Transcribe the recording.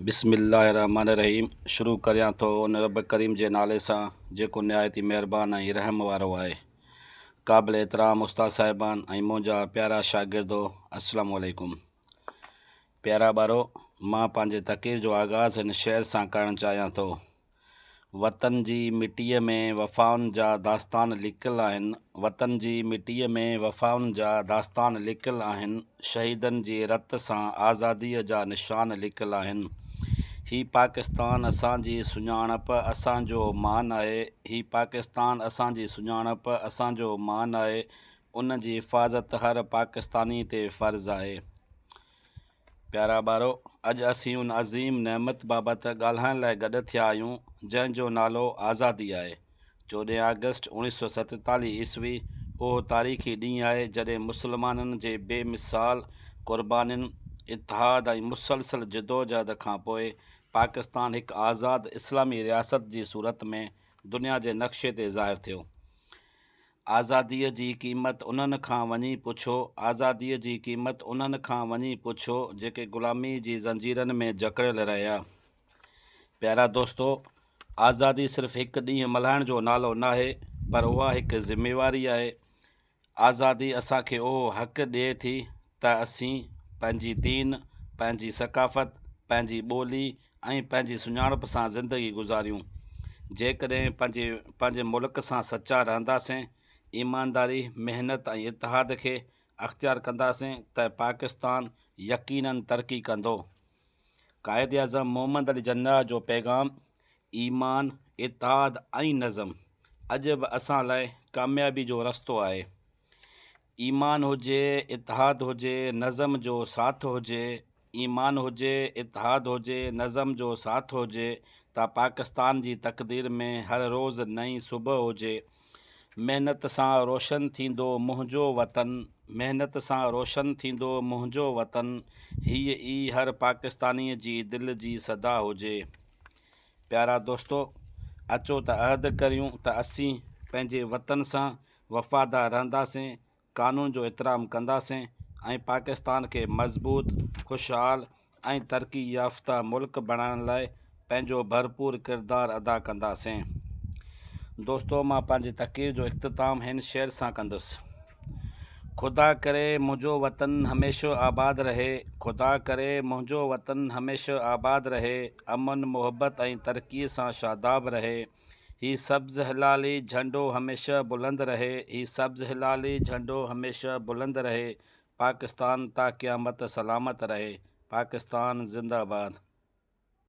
بسم الله الرحمٰن الرحيم شروع ڪريان ٿو ان رب ڪريم جي نالي سان جيڪو نهايت ئي مهربان ۽ رحم وارو آهي. قابل احترام استاد صاحبان ۽ منهنجا پيارا شاگردو السلام عليڪم. پيارا ٻارو مان پنهنجي تقرير جو آغاز هن شعر سان ڪرڻ چاهيان ٿو. وطن جي مٽيء ۾ وفائن جا داستان لڪل آهن، وطن جي مٽيء ۾ وفائن جا داستان لڪل آهن، شهيدن جي رت سان آزاديء جا نشان لڪل آهن. هي پاڪستان اسان جي سڃاڻپ، اسان جو مان آهي، هي پاڪستان اسان جي سڃاڻپ، اسان جو مان آهي، ان جي حفاظت هر پاڪستاني تي فرض آهي. پيارا ٻارو! اڄ اسين ان عظيم نعمت بابت ڳالهائڻ لاء گڏ ٿيا آهيون، جنهن جو نالو آزادي آهي. چوڏهن آگسٽ اوڻيهه سؤ ستيتاليهه عيسوي اهو تاريخي ڏينهن آهي، جڏهن مسلمانن جي بي مثال قربانين، اتحاد ۽ مسلسل جدوجهد کان پوء پاڪستان هڪ آزاد اسلامي رياست جي صورت ۾ دنيا جي نقشي تي ظاهر ٿيو. آزاديء جي قيمت انهن کان وڃي پڇو، آزاديء جي قيمت انهن کان وڃي پڇو، جيڪي غلاميء جي زنجيرن ۾ جڪڙيل رهيا. پيارا دوستو! آزادي صرف هڪ ڏينهن ملهائڻ جو نالو ناهي، پر اها هڪ ذميواري آهي. آزادي اسان کي اهو حق ڏئي ٿي ته اسين پنهنجي دين، پنهنجي ثقافت، پنهنجي ٻولي ۽ ۽ پنهنجي سڃاڻپ سان زندگي گذاريون. جيڪڏهن پنهنجي پنهنجي ملڪ سان سچا رهنداسين، ايمانداري، محنت ۽ اتحاد کي اختيار ڪنداسين ته پاڪستان يقيناً ترقي ڪندو. قائداعظم محمد علي جناح جو پيغام ايمان، اتحاد ۽ نظم اڄ به اسان لاء ڪاميابي جو رستو آهي. ايمان هجي اتحاد هجي نظم جو ساٿ هجي ايمان هجي اتحاد هجي نظم جو ساٿ هجي ته پاڪستان جي تقدير ۾ هر روز نئين صبح هجي محنت سان روشن ٿيندو منهنجو وطن محنت سان روشن ٿيندو منهنجو وطن هيء ئي هر پاڪستاني جي دل جي صدا هجي پيارا دوستو اچو ته عهد ڪريون ته اسين پنهنجي وطن سان وفادار رهنداسين، قانون جو احترام ڪنداسين ۽ پاڪستان کي مضبوط، خوشحال ۽ ترقي يافته ملڪ بڻائڻ لاء پنهنجو ڀرپور ڪردار ادا ڪنداسين. دوستو مان پنهنجي تقرير جو اختتام هن شعر سان ڪندس. خدا ڪري منهنجو وطن هميشه آباد رهي، خدا ڪري منهنجو وطن هميشه آباد رهي، امن، محبت ۽ ترقي سان شاداب رهي. هي سبز هلالي جهنڊو هميشه بلند رهي هي سبز هلالي جهنڊو هميشه بلند رهي پاڪستان تا قيامت سلامت رهي پاڪستان زنده باد.